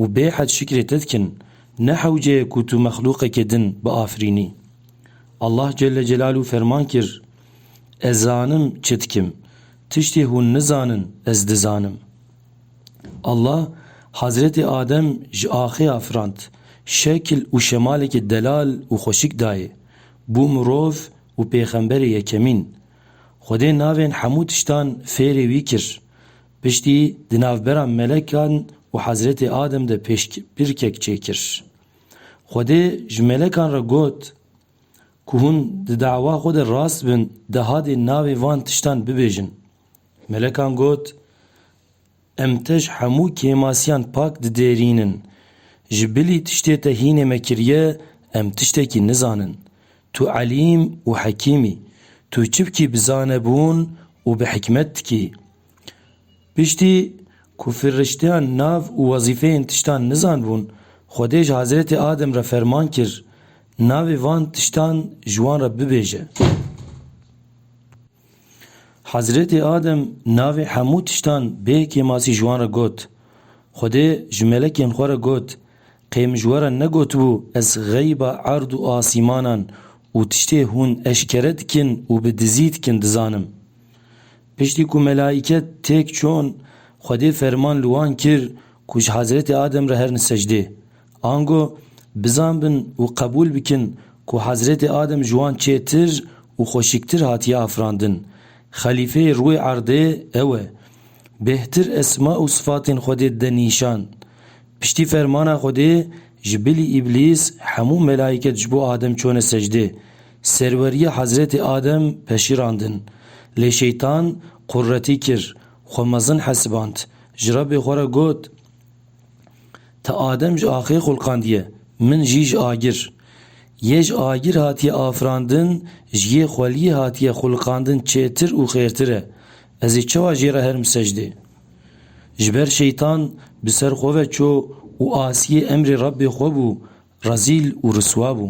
û bêhed şikrê te dikin, ne hewce ye ku tu mexlûqekê din biafirînî. Allah Celle Celaluhu ferman kir, Ez zanim çi dikim, tiştê hûn nizanin ez dizanim. Allah Hezretê Adem ji axê a firand, şekil û şemalekê delal û xweşik dayê, bû mirov û pêxemberê yekemîn. Xwedê navên hemû tiştan fêrê wî kir, Piştî di navbera melekan û Hezretê Adem de pêşbirkek çêkir. Xwedê ji melekan re got ku hûn di dawa xwe de rast bin dehadê navê van tiştan bibêjin. Melekan got, Em te ji hemû kêmasiyan pak didêrînin. Ji bilî tiştê te hînê me kiriye em tiştekî nizanin. Tu elîm û hekîm î. Tu çi bikî bi zanebûn û bi hikmet dikî. Piştî ku firişteyan nav û wezîfeyên tiştan nizanbûn, Xwedê ji Hezretê Adem re ferman kir, navê van tiştan ji wan re bibêje. Hezretê Adem navê hemû tiştan bê kêmasî ji wan re got. Xwedê ji melekên xwe re got, Qey min ji we re negotibû ez xeyba erd û asîmanan û tiştê hûn eşkere dikin û bi dizî dikin dizanim? Piştî ku melaîke têk çûn, Xwedê ferman li wan kir ku ji Hezretê Adem re herin secdê. Ango, bizan bin û qebûl bikin ku Hezretê Adem ji wan çêtir û xweşiktir hatiye afirandin. Xelîfeyê rûyê erdê ew e. Bêhtir esma û sifatên Xwedê dide nîşan. Piştî fermana Xwedê, ji bilî Îblîs, hemû melaîket ji bo Adem çûne secdê. Serweriyê Hezretê Adem peşîrandin. Lê Şeytan quretî kir, xwe mezin hesiband, ji Rebbê xwe re got, Te Adem ji axê xulqandiye, min jî ji agir. Yê ji agir hatiye afirandin, ji yê xweliyê hatiye xulqandin çêtir û xêrtir e. Ez ê çawa jê re herim secdê? Ji ber Şeytan bi ser xwe ve çû û asiyê emrê Rebbê xwe bû, rezîl û riswa bû.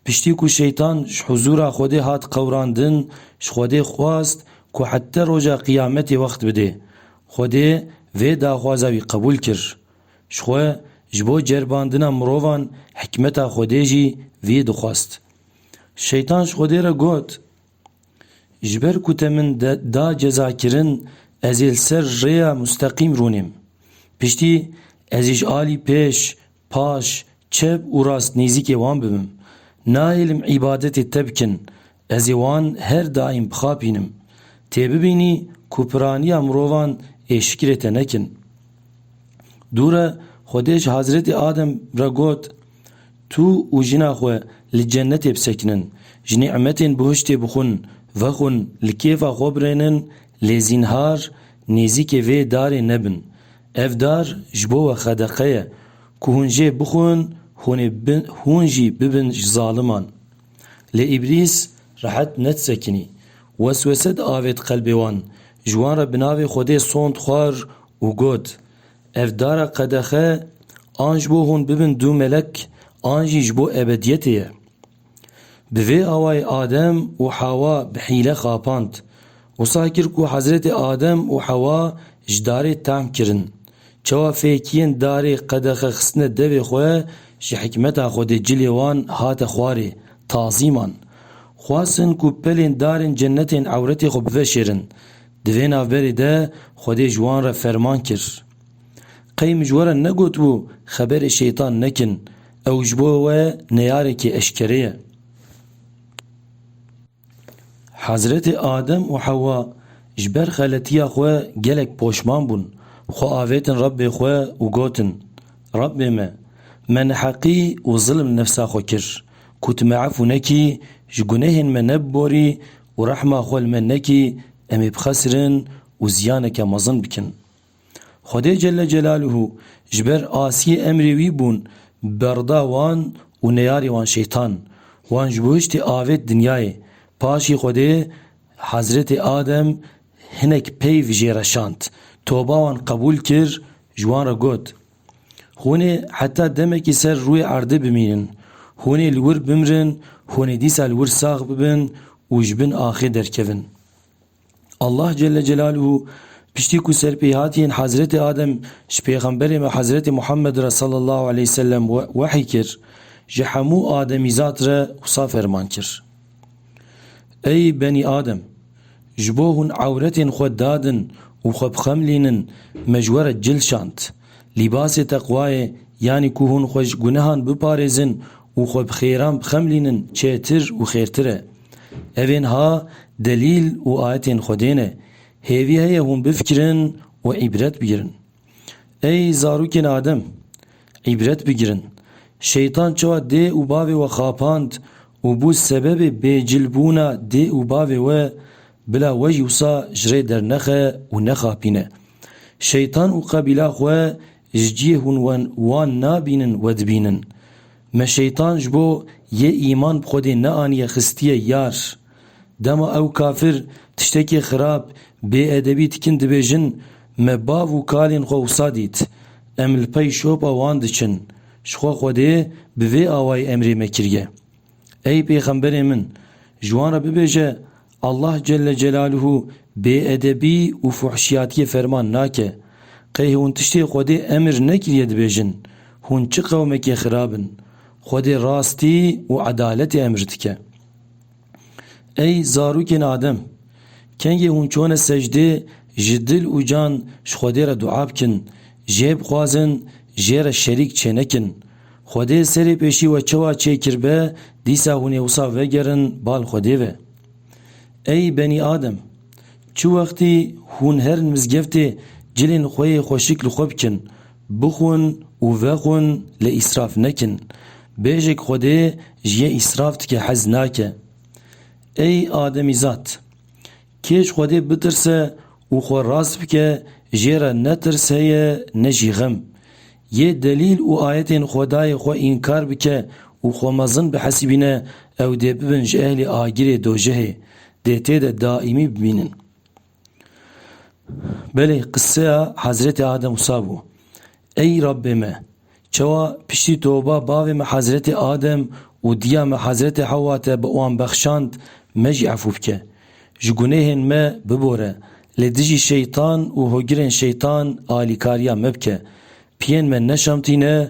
Piştî ku Şeytan ji huzûra Xwedê hat qewrandin, ji Xwedê xwest ku hette roja qiyametê wext bidê. Xwedê vê daxwaza wî qebûl kir. Ji xwe ji bo ceribandina mirovan hikmeta Xwedê jî vî dixwest. Şeytan ji Xwedê re got. Ji ber ku te min da cezakirin ez ê li ser rêya musteqîm rûnêm. Piştî ez ê ji alî pêş, paş, çep û rast nêzîkê wan bibim. Nahêlim îbadetê te bikin, ez ê wan her daîm bixapînim. Tê bibînî ku piraniya mirovan ê şikrê te nekin. Dûre Xwedê ji Hezretê Adem re got, Tu û jina xwe li cenetê bisekinin, ji nî'metên bihiştê bixwin, vexwin, li kêfa xwe birênin lê zînhar nêzîkê vê darê nebin. Ev dar ji bo we xedeqe ye ku hûn jê bixwin hûnê hûn jî bibin ji zaliman. Lê îblîs rehet nedisekinî. Weswese diavêt qelbê wan, ji wan re bi navê Xwedê sond xwar û got, Ev dara qedexe an ji bo hûn bibin du melek an jî ji bo ebediyetê ye. Bi vê awayî Adem û Hewa bi hîle xapand. Wisa kir ku Hezretê Adem û Hewa ji darê tahm kirin. Çawa fêkiyên darê qedexe xistine devê xwe ji hikmeta Xwedê cilê wan hate xwarê, tazîman. Xwestin ku pelên darên cenetên ewretê xwe biveşêrin. Di vê navberê de Xwedê ji wan re ferman kir, Qey min ji we re negotibû xeberê Şeytan nekin, ew ji bo we neyarekî eşkere ye. Hezretê Adem û Hewa ji ber xeletiya xwe gelek poşman bûn, xwe avêtin Rebbê xwe û gotin, Rebbê me, me neheqî û zilm nefsa xwe kir, ku tu me efû nekî, ji gunehên me nebiborî Û rehma xwe li me nekî em ê bixesirin û ziyaneke mezin bikin. Xwedê Celle Celaluhu ji ber asiyê emrê wî bûn berda wan û neyarê wan şeytan, wan ji bo hiştê avêt dinyayê, paşî Xwedê Hezretê Adem hinek peyv jê re şand, toba wan qebûl kir, ji wan re got, Hûn ê heta demekî ser rûyê erdê bimînin. Hûn ê li wir bimrin, hûn ê dîsa li wir sax bibin û ji bin axê derkevin. Allah Celle Celaluhu piştî ku serpêhatiyên Hezretê Adem ji Pêxemberê me Hezretê Muhammed re sallallahu aleyh wesellem wehy kir, ji hemû ademîzad re wisa ferman kir. Ey benî Adem! Ji bo hûn ewretên xwe dadin û xwe bixemlînin me ji we re cil şand. Lîbasê teqwayê yanî ku hûn xwe ji gunehan biparêzin û xwe bi xêran bixemlînin çêtir û xêrtir e. Ev ên ha delîl û ayetên Xwedê ne. Hêvî heye hûn bifikirin û îbret bigirin. Ey zarokên Adem! Îbret bigirin, Şeytan çawa dê û bavê we xapand û bû sebebê bêcilbûna dê û bavê we, bila we jî wisa ji rê dernexe û nexapîne. Şeytan û qebîla xwe ji cihê hûn we wan nabînin we dibînin. Me Şeytan ji bo yê îman bi xwe dê neaniye xistiye yar. Dema ew kafir tiştekî xirab, bêedebî dikin dibêjin, Me bav û kalên xwe wisa dît. Em li pey şopa wan diçin. Ji xwe Xwedê bi vê awayî emrê me kiriye. Ey pêxemberê min! Ji wan re bibêje, Allah Celle Celaluhu bêedebî û fuhşiyatiyê ferman nake. Qey hûn tiştê Xwedê emr nekiriye dibêjin, Hûn çi qewmekê xirab in! Xwedê rastî û edaletê emr dike. Ey zarokên Adem! Kengê hûn çûne secdê, ji dil û can ji Xwedê re dua bikin, jê bixwazin, jê re şerîk çênekin. Xwedê serê pêşî we çawa çê kiribe, dîsa hûn ê wisa vegerin bal Xwedê ve. Ey benî Adem! Çi wextî hûn herin mizgeftê cilên xwe yê xweşik li xwe bikin, Bixwin û vexwin lê îsraf nekin. Bêjek Xwedê ji yê îsraf tike hez nake. Ey ademîzad! Kê ji Xwedê bitirse û xwe rast bike jê re ne tirs heye ne jî xem. Yê delîl û ayetên Xwedayê xwe înkar bike û xwe mezin bihesibîne ew dê bibin ji ehlê agirê dojehê, dê tê de daîmî bimînin. Belê qiseya Hezretê Adem wisa bû, Ey Rabbê me! Çawa piştî toba bavê me Hezretê Adem û diya me Hezretê Hewa te bi wan bexşand, me jî efû bike. Ji gunehên me bibore, lê dijî şeytan û hogirên şeytan alîkariya me bike. Piyên me neşamtîne